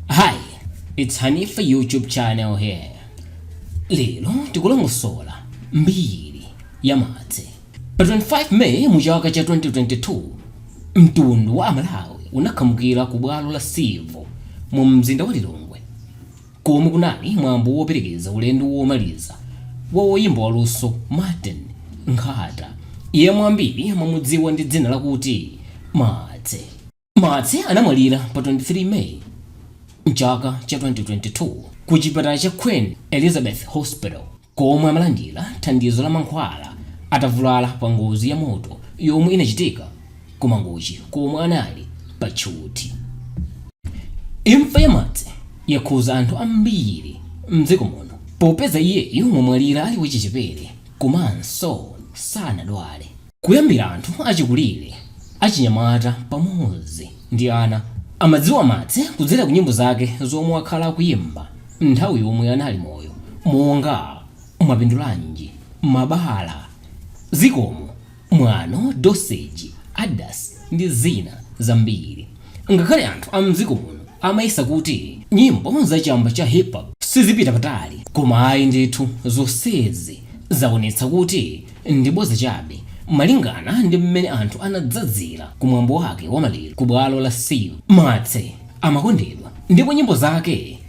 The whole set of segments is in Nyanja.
Hi it's Hanifa YouTube channel here lero tikulongosola mbiri ya Martse pa 25 May mu chaka cha 2022 mtundu wa amalawi unakhamukira ku bwalo la Civo mu mzinda wa Lilongwe komwe kunali mwambo woperekeza ulendo womaliza wa woyimba waluso Martin Nkhata yemwe ambiri amamudziwa ndi dzina lakuti Martse. Martse anamwalira pa 23 May m'chaka cha 2022 ku chipatala cha Queen Elizabeth Hospital komwe amalandira thandizo la mankhwala atavulala pa ngozi ya moto yomwe inachitika ku Mangochi komwe anali pa tchuthi. Imfa ya Martse yakhuza anthu ambiri m'dziko muno popeza iyeyu wamwalira ali wachichepere komanso sanadwale. Kuyambira anthu achikulire, achinyamata pamodzi ndi ana amadziwa Martse kudzera kunyimbo zake zomwe wakhala akuyimba nthawi yomwe anali moyo monga Mwapindulanji, Mabala, Zikomo, Mwano, Dosage, Adidas ndi zina zambiri. Ngakhale anthu a m'dziko muno amayesa kuti nyimbo za chamba cha Hip Hop sizipita patali, koma ayi ndithu, zonsezi zaonetsa kuti ndi bodza chabe, malingana ndi m'mene anthu anadzadzira ku mwambo wake wa maliro ku bwalo la Civo Martse amakondedwa ndipo nyimbo zake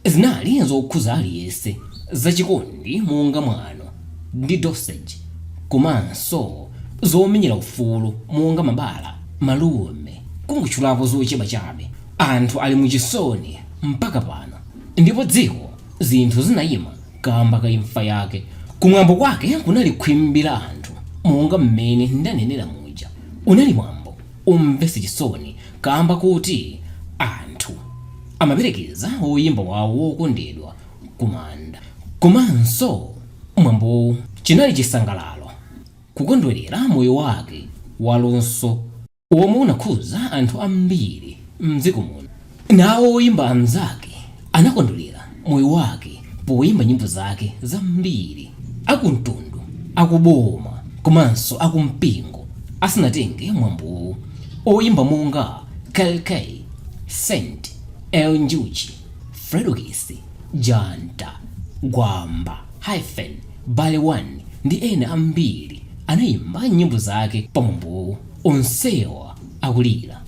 Zinali zokhuza aliyense za chikondi monga mwano ndi dosage komanso zomenyera ufulu monga mabala, malume kungotchulapo zochepa chabe. Anthu ali mu chisoni mpaka pano ndipo dziko zinthu zinaima kamba ka imfa yake. Kumwambo kwake kunali khwimbi la anthu monga mmene ndanenera muja. Unali mwambo. Womvetsa chisoni kaamba koti anthu amaperekeza woyimba wawo wokondedwa kumanda. Komanso mwambowu chinali chisangalalo kukondwelera moyo wake waluso womwe unakhuza anthu ambiri mdziko muno. Nawo oyimba anzake anakondwerera moyo wake poyimba nyimbo zake zambiri akumtundu, akuboma komanso akumpingo asanatenge mwambowu. Oyimba monga Kell Kay, Saint, Eli Njuchi, Fredokiss, Janta, Gwamba, Hyphen, Barry One ndi ena ambiri anayimba nyimbo zake pa mwambowu. onsewa akulira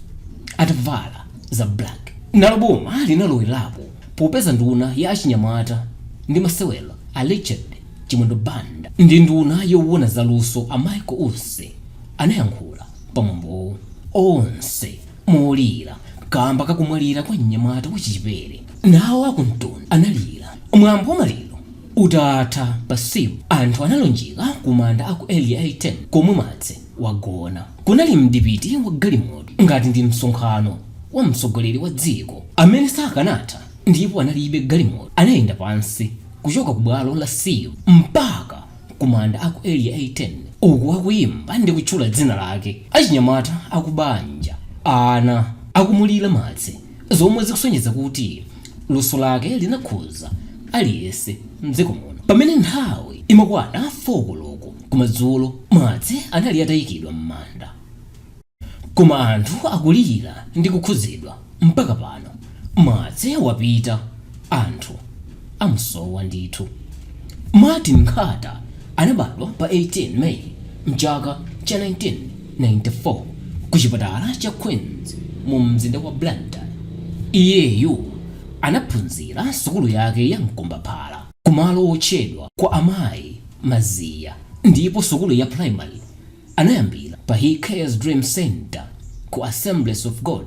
atavala za black nalo boma linalowerapo popeza nduna ya achinyamata ndi masewero a richard chimwendo banda ndi nduna yowona za luso a michael usi anayankhula pamwambowo onse molira kamba kakumwalira kwa mnyamata wachichepere nawo akumtunda analira mwambo wa maliro utatha pa civo anthu analunjika kumanda aku area 18 komwe martse wagona. Kunali mdipiti wa galimoto, ngati ndi msonkhano wa mtsogoleri wa dziko, amene sakanatha, ndipo analibe galimoto, anayenda pansi kuchoka ku Bwalo la Civo mpaka ku manda a ku Area 18, uku akuyimba ndi kutchula dzina lake, achinyamata a ku banja, ana, akumulira Martse, zomwe zikusonyeza kuti luso lake linakhudza aliyense mdziko muno. Pamene nthawi imakwana 4 koloko. Kumadzulo, Martse anali atayikidwa mmanda. Koma anthu akulira ndi kukhudzidwa mpaka pano. Martse wapita, anthu amusowa ndithu. Martin Nkhata anabadwa pa 18 May mchaka cha 1994 ku chipatala cha Queens mu mzinda wa Blantyre. Iyeyu anaphunzira sukulu yake ya mkombaphala ku malo otchedwa kwa amayi. Maziya ndipo sukulu ya primary anayambila pa he cares dream center ku assemblies of God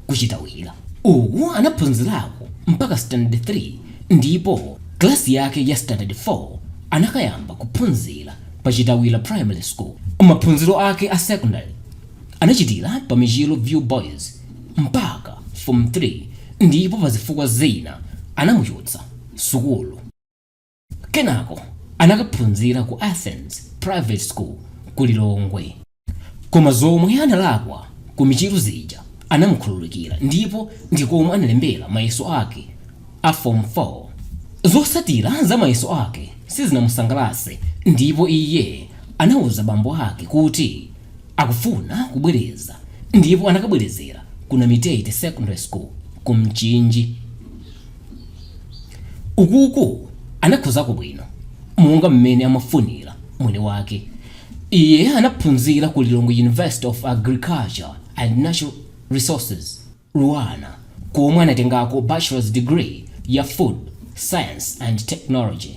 ku chitawira uku anaphunzilako mpaka standard 3 ndipo class yake ya standard 4 anakayamba kuphunzila pa chitawira primary school maphunziro ake a secondary anachitila pa michiru view boys mpaka form 3 ndipo pazifukwa zina anamuchotsa sukulu Kenako anakaphunzira ku Athens Private School ku Lilongwe. Koma zomwe analakwa ku Michiru zija anamukhululukira ndipo ndi komwe analembera mayeso ake a Form 4. Zotsatira za mayeso ake sizinamusangalatse ndipo iye anauza bambo ake kuti akufuna kubwereza ndipo anakabwerezera ku Namitete Secondary School ku Mchinji. ukuku anakhozako bwino monga mmene amafunira mwini wake iye anaphunzira ku lilongwe university of agriculture and natural resources luanar komwe anatengako bachelor's degree ya food science and technology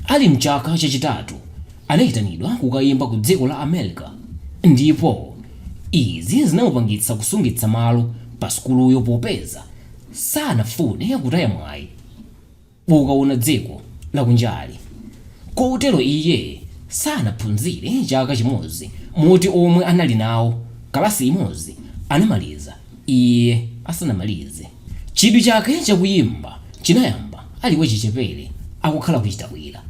Ali m'chaka chachitatu, anaitanidwa kukaimba ku dziko la America, ndipo izi zinamupangitsa kusungitsa malo pa sukuluyo popeza sanafune kutaya mwayi wokaona dziko lakunjali. Kotero iye sanaphunzire chaka chimodzi moti omwe anali nawo kalasi imodzi anamaliza iye asanamalize. Chidwi chake cha kuyimba chinayamba ali wachichepere akukhala ku Chitawira.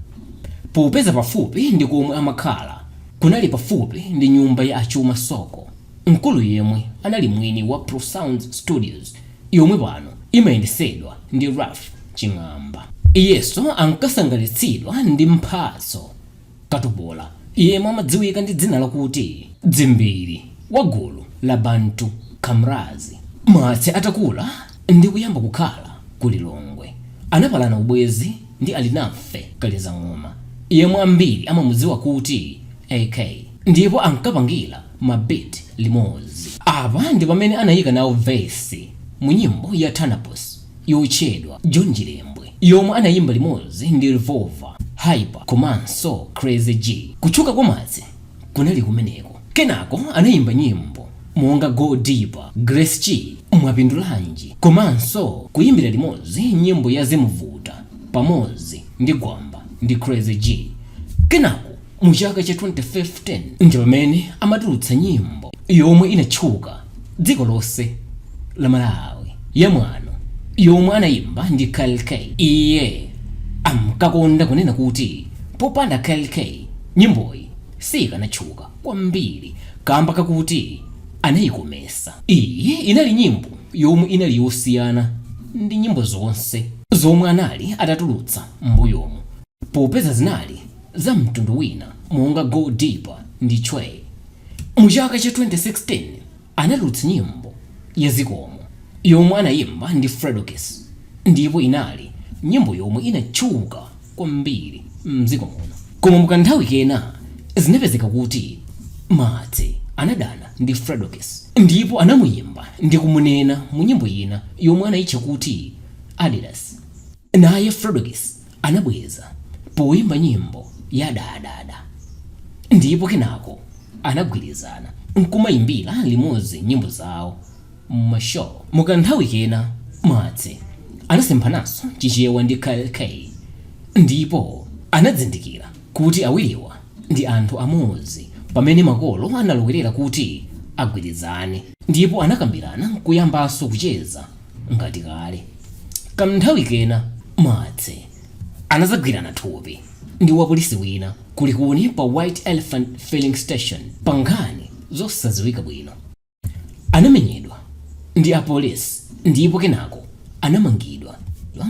Popeza pafupi ndi komwe amakhala kunali pafupi ndi nyumba ya a Chuma Soko, mkulu yemwe anali mwini wa Pro Sounds Studios yomwe pano imayendesedwa ndi Ralph Ching'amba. Iyeso ankasangalitsidwa ndi Mphatso Katupola, yemwe amadziwika ndi dzina lakuti Dzimbiri, wa gulu la Bantu Kamraz. Martse atakula ndi kuyamba kukhala ku Lilongwe, anapalana ubwezi ndi Alinafe Kaliza Ng'oma, yemwe ambiri amamudziwa kuti AK, ndipo ankapangira ma beat limodzi. Apa ndi pamene anayika nawo verse mu nyimbo ya Tanaposi. yotchedwa John Chilembwe yomwe anayimba limodzi ndi Revolver, Hyper komanso Crazy G. Kutchuka kwa Martse kunali kumeneko. Kenako anayimba nyimbo monga Go Deeper, Grace Chi, Mwapindulanji komanso kuyimbira limodzi nyimbo ya Zimuvuta pamodzi ndi Gwamba ndi Crazy G. Kenako. mu chaka cha 2015 ndi pamene amatulutsa nyimbo yomwe inatchuka dziko lonse la malawi ya mwano yomwe anayimba ndi kell kay iye amkakonda kunena kuti popanda kell kay nyimboyi siyikanatchuka kwambiri kamba kakuti anayikomesa iyi inali nyimbo yomwe inali yosiyana ndi nyimbo zonse zomwe anali atatulutsa mbuyomu Popeza zinali za mtundu wina monga Go Deeper ndi Tchwee! mu chaka cha 2016 anatulutsa nyimbo ya Zikomo yomwe anayimba ndi Fredokiss ndipo inali nyimbo yomwe inatchuka kwambiri mdziko muno. Koma mu kanthawi kena zinapezeka kuti Martse anadana ndi Fredokiss ndipo anamuyimba ndi kumunena mu nyimbo ina yomwe anayitcha kuti Adidas. Naye Fredokiss anabweza poimba nyimbo ya Dadada ndipo kenako anagwirizana n'kumaimbira limodzi nyimbo zawo mu ma show. Mu ka nthawi kena, Martse anasemphananso Chichewa ndi Kell Kay ndipo anadzindikira kuti awiriwa ndi anthu amodzi pamene makolo analowerera kuti agwirizane ndipo anakambirana n'kuyambanso kucheza. ngati kale kamnthawi kena Martse anadzagwirana thupi ndi wapolisi wina ku Likuni pa white elephant filling station pa nkhani zosadziwika bwino anamenyedwa ndi apolisi ndipo kenako anamangidwa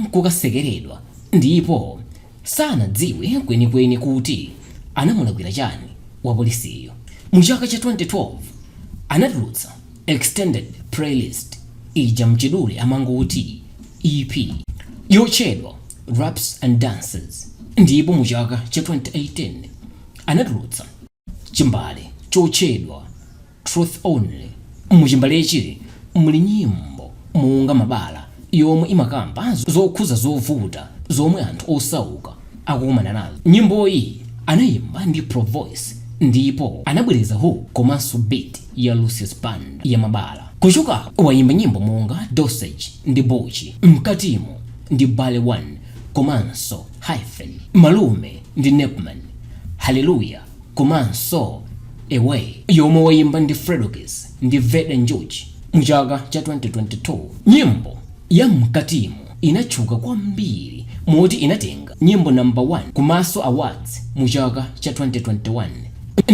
nkukatsekeredwa ndipo sanadziwe kwenikweni kuti anamulakwira chani wapolisiyo mu chaka cha 2012 anatulutsa Extended playlist mchidule amangoti EP yotchedwa Raps and Dances ndipo mu chaka cha 2018 anatulutsa chimbale chotchedwa Truth Only. Mu chimbalechi muli nyimbo monga Mabala yomwe imakamba zokhuza zovuta zomwe anthu osauka akukumana nazo. Nyimboyi anayimba ndi Provoice ndipo anabwereza hook komanso beat ya Lucius Banda ya Mabala. Kuchoka apo wayimba nyimbo monga Dosage ndi Bucci, Mkatimu ndi Barry 1 komanso Hyphen, Malume ndi Nepman, Hallelujah komanso Away yomwe wayimba ndi Fredokiss ndi Veda Njuchi mu chaka cha 2022. Nyimbo ya Mkatimu. inatchuka kwambiri moti inatenga nyimbo namba 1 ku Maso Awards mu chaka cha 2021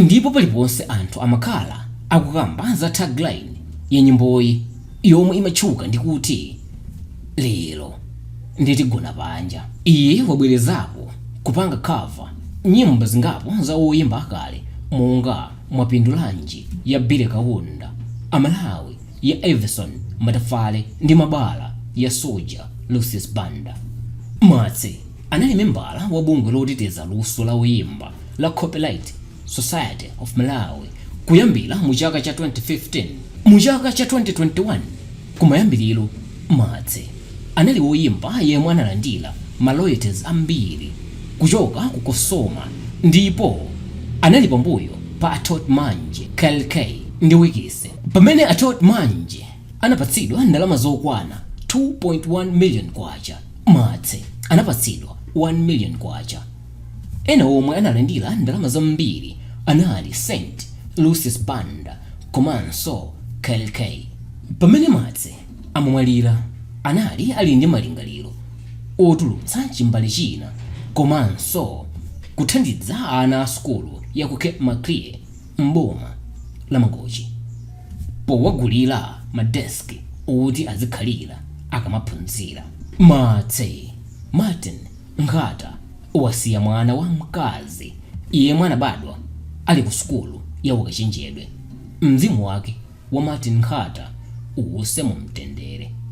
ndipo paliponse anthu amakhala akukamba za tagline ya nyimboyi yomwe imatchuka ndi kuti lero nde tigona panja. Iye wabwerezapo kupanga cover nyimbo zingapo za oyimba akale monga Mwapindulanji ya Billy Kaunda, Amalawi ya Evison Matafale ndi mabala ya Soldier Lucius Banda. Martse anali membala wa bungwe loteteza luso la oyimba la Copyright Society of Malawi kuyambira mu chaka cha 2015. Mu chaka cha 2021 kumayambiliro, Martse. anali woyimba yemwe analandira ma royalties ambiri kuchoka ku Cosoma ndipo anali pambuyo pa Atoht Manje, Kell Kay ndi Wikise. Pamene Atoht Manje anapatsidwa ndalama zokwana 2.1 million kwacha, Martse anapatsidwa 1 million kwacha. Ena omwe analandira ndalama zambiri anali Soldier Lucius Banda komanso Kell Kay. Pamene Martse amamwalira anali ali ndi malingaliro otulutsa chimbale china komanso kuthandiza ana a sukulu ya ku Cape Maclear m'boma la Mangochi powagulira ma desk oti azikhalira akamaphunzira. Martse Martin Nkhata wasiya mwana wa mkazi yemwe anabadwa ali ku sukulu ya ukachenjede. Mzimu wake wa Martin Nkhata uwuse mu mtendere.